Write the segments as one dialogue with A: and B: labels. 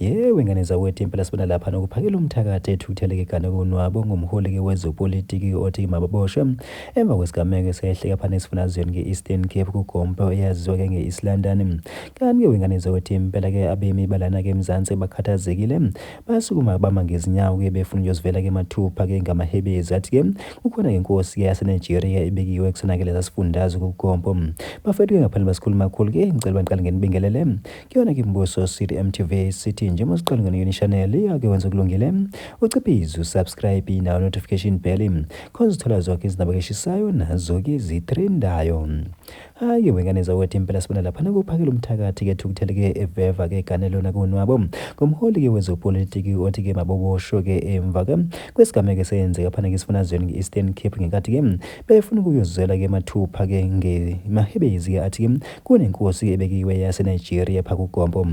A: Yewe ngane zakwethu impela sibona lapha nokuphakela umthakathi ethukutheleke gane konwabo ngumholi-ke wezopolitiki othi mababoshwe emva kwesigameko esehleka phana esifunazweni nge-eastern cape kugompe eyaziwa-ke nge-east london kanti-ke wengane zakwethu impela-ke abemi balana-ke emzansi bakhathazekile basukuma bama ngezinyawo-ke befuna ukuyozivela-ke mathupha-ke ngamahebezi athi-ke kukhona-ke inkosi-ke yasenigeria ebekiwe kusona-ke lesa sifundazwe kugompo bafethu-ke ngaphandle basikhuluma khulu-ke ngicela baniqale ngenibingelele Kuyona ke Mbuso City MTV sithi njengoba siqala ngene yona channel iyake wenza kulungile uciphize usubscribe nawo notification bell khona uzithola zonke izindaba keshisayo nazo ke zitrendayo hayi wengane zawethu impela sibona lapha nakuphakela umthakathi ke thukuthele ke eveva ke gane lona kunwabo ngomholi ke wezopolitiki othi ke mabobosho ke emva ke kwesigameko esenzeka phana ke sifunazweni nge-Eastern Cape ngenkathi ke befuna ukuyozwela ke mathupha ke ngemahebezi ke athi ke Kunenkosi ebekiwe yase Nigeria pha ku Gompo.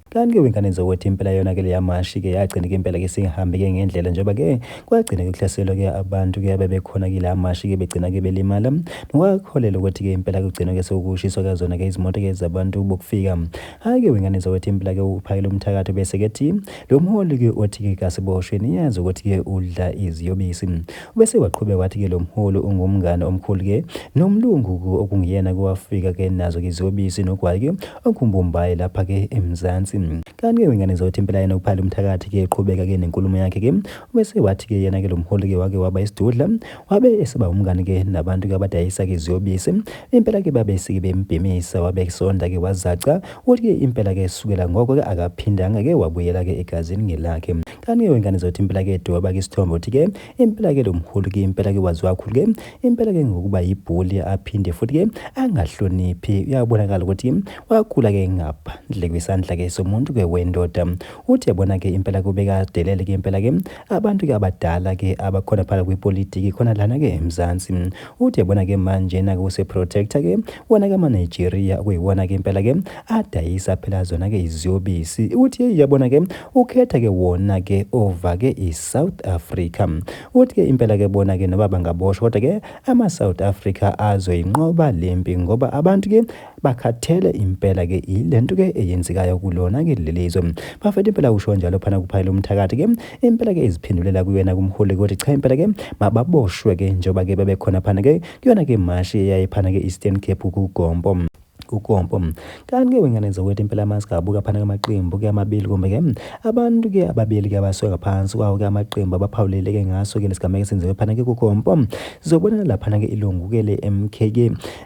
A: Kanti ke wengane zokuthi impela yona ke leya mashi ke yagcina ke impela ke singahambi ke ngendlela njengoba ke kwagcina ke kuhlaselwa ke abantu ke abebekhona ke la mashi ke begcina ke belimala. Nokwaholela ukuthi ke impela kugcina ke sokushiswa ke zona ke izimoto ke zabantu bokufika. Hayi ke wengane zokuthi impela ke uphakele umthakathi bese ke thi lo mholi ke othi ke kasiboshwe niyazi ukuthi ke udla iziyobisi. Bese waqhubeka wathi ke lo mholi ungumngani omkhulu ke nomlungu ku okunguyena ke owafika ke nazo ke iziyobisi nogwayi ke okumbumbayi lapha ke eMzansi. Kanti ke wengane zothi impela yena uPhali uMthakathi ke eqhubeka ke nenkulumo yakhe ke bese wathi ke yena ke lo mholi ke wake waba isidudla wabe eseba umngani ke nabantu ke abadayisa ke iziyobisi impela ke babe sike bembhemisa wabe sonda ke wazaca ukuthi ke impela ke sukela ngoko ke akaphindanga ke wabuyela ke egazini ngelakhe. Kani wengane zothi impela ke dweba ke isithombe uthi ke impela ke lomhulu ke impela ke waziwa kakhulu ke impela ke ngokuba yibhuli aphinde futhi ke angahloniphi uyabonakala ukuthi wakhula ke ngaphandle kwesandla ke somuntu ke wendoda uthi yabona ke impela kubeka delele ke impela ke abantu ke abadala ke abakhona phala kwipolitiki khona lana ke eMzansi uthi yabona ke manje na kuse protector ke wona-ke amanigeria okuyiwona-ke impela-ke adayisa phela zona-ke iziyobisi ukuthi yeyi yabona-ke ukhetha-ke wona-ke ova-ke i-south africa ukuthi-ke impela-ke bona-ke noba bangaboshwa kodwa-ke ama-south africa azoyinqoba le mpi ngoba abantu-ke bakhathele impela-ke yile nto-ke eyenzekayo kulona-ke leli zwe bafethu impela usho njalo phana kuphayela umthakathi-ke impela-ke iziphindulela kuyena kumholi ukuthi cha impela-ke mababoshwe-ke njengoba-ke bebekhona phana-ke kuyona ke mashi eyayiphana ke Eastern Cape kuGompo kukompo kanti ke wengane zakwethu impela amasigabuka phana kamaqembu ke amabili kumbe ke abantu ke ababili ke abasuke ngaphansi kwawo ke amaqembu abaphawulele ke ngaso ke lesigameko esenziwe phana ke kukompo sizobona laphana ke ilungu ke le MK ke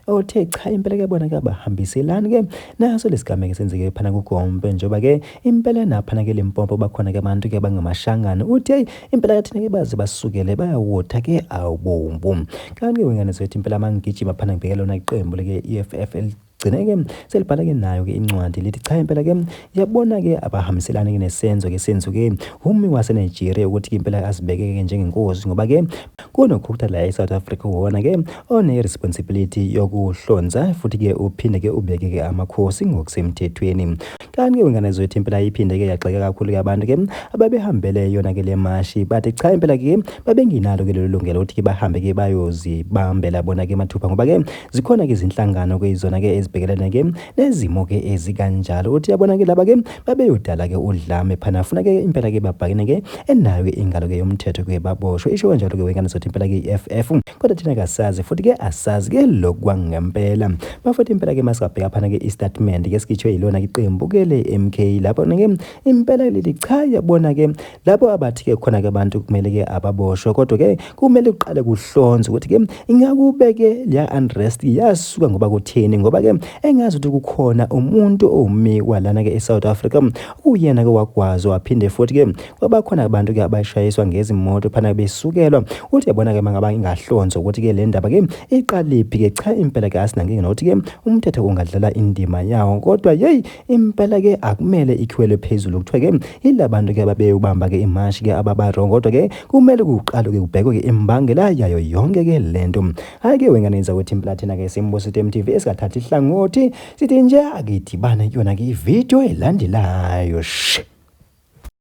A: othe cha impela ke bona ke abahambiselani ke naso lesigameko esenzeke phana kukompo njengoba ke Impela napha nake Limpopo bakhona ke abantu ke bangamashangane uthi hey impela kathina ke baze basukele bayawotha ke awubombu kanti ke wengane zethu impela mangigijima phana ngibheke lona iqembu leke EFF gcine-ke selibhala-ke nayo-ke incwadi lithi cha impela-ke yabona-ke abahambiselani-ke nesenzo-ke senzu-ke humi wasenigeria ukuthi-ke impela azibeke-ke njengenkosi ngoba-ke kunokhukutha la e-south africa wona-ke one-responsibility yokuhlonza futhi-ke uphinde-ke ubeke-ke amakhosi ngokusemthethweni Kanti ke ingane zethu impela iphinde ke yagxeka kakhulu ke abantu ke ababehambele yona ke le mashi bathi cha impela ke babenginalo ke lelo lungelo ukuthi ke bahambe ke bayozibambela bona ke mathupha ngoba ke zikhona ke izinhlangano ke izona ke ezibhekelene ke nezimo ke ezikanjalo uthi yabona ke laba ke babeyodala ke udlame phana funa ke impela ke babhakene ke enayo ke ingalo ke yomthetho ke baboshwe isho kanjalo ke wengane zethu impela ke iFF kodwa thina kasazi futhi ke asazi ke lokhu kwangempela bafethu impela ke masingabheka phana ke istatement ke sikhishwe yilona iqembu ke le MK lapho ke impela leli cha yabona ke lapho abathi ke khona ke abantu kumele ke ababoshwe kodwa ke kumele uqale kuhlonze ukuthi ke ingakubeke leya unrest yasuka ngoba kutheni ngoba ke engazi ukuthi kukhona umuntu owumikwa lana ke eSouth Africa uyena ke wagwazwa waphinde futhi ke kwabakhona abantu ke abashayiswa ngezimoto phana besukelwa uthi yabona ke mangaba ingahlonza ukuthi ke le ndaba ke iqalephi ke cha impela ke asinankinga nokuthi ke umthetho ungadlala indima yawo kodwa yeyi impela ke akumele ikhiwelwe phezulu kuthiwa ke yilabantu ke babeyobamba ke imashi ke ababarongo kodwa ke kumele kuqalwe ke kubhekwe ke imbangela yayo yonke ke lento hayi ke wengane yenza ukuthi impela thina ke simbuso TV esikathatha ihlangothi sithi nje akidibane kuyona ke ivideo elandelayo shh